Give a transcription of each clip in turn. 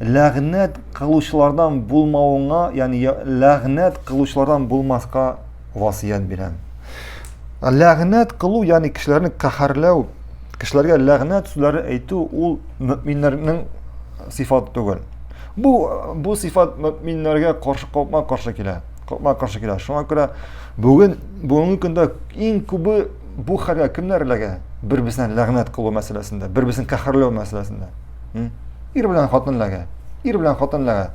ләгънәт кылучылардан булмавыңа, ягъни ләгънәт кылучылардан булмаска васыять бирәм. Ләгънәт кылу, ягъни кешеләрне каһәрләү, кешеләргә ләгънәт сүзләре әйтү ул мөминнәрнең сифаты түгел. Бу бу сифат мөминнәргә каршы капма каршы килә. Капма каршы килә. Шуңа күрә бүген бүгенге көндә иң күбе бу хәлгә кемнәр эләгә? Бер-берсенә ләгънәт кылу мәсьәләсендә, бер-берсен каһәрләү мәсьәләсендә. Ир белән хатын ләгә. Ир белән хатын ләгә.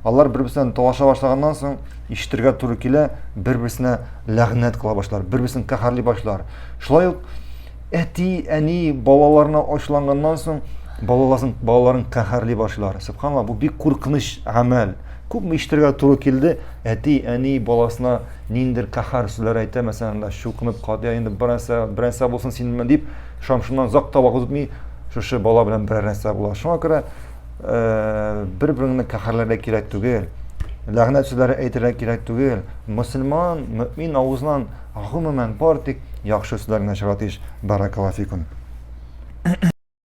Алар бер-берсеннән талаша башлаганнан соң, ишетергә туры килә, бер-берсенә ләгънәт кыла башлар, бер-берсен каһарли башлар. Шулай ук әти, әни балаларына ачуланганнан соң, балаласын, балаларын каһарли башлар. Субханалла, бу бик куркыныч гамәл. Күпме ишетергә туры килде, әти, әни баласына ниндер каһар сүзләр әйтә, мәсәлән, чукынып катя, инде берәсә, берәсә булсын синме дип, Шам шуннан озак та вакыт үтми, шушы бала белән берәр нәрсә була. Шуңа күрә э, бер-береңне каһәрләргә кирәк түгел. Ләгънәт сүзләре әйтергә кирәк түгел. Мөселман, мөмин авызыннан гомумән бар тик яхшы сүзләр генә чыга тиеш. Баракаллаһу фикум.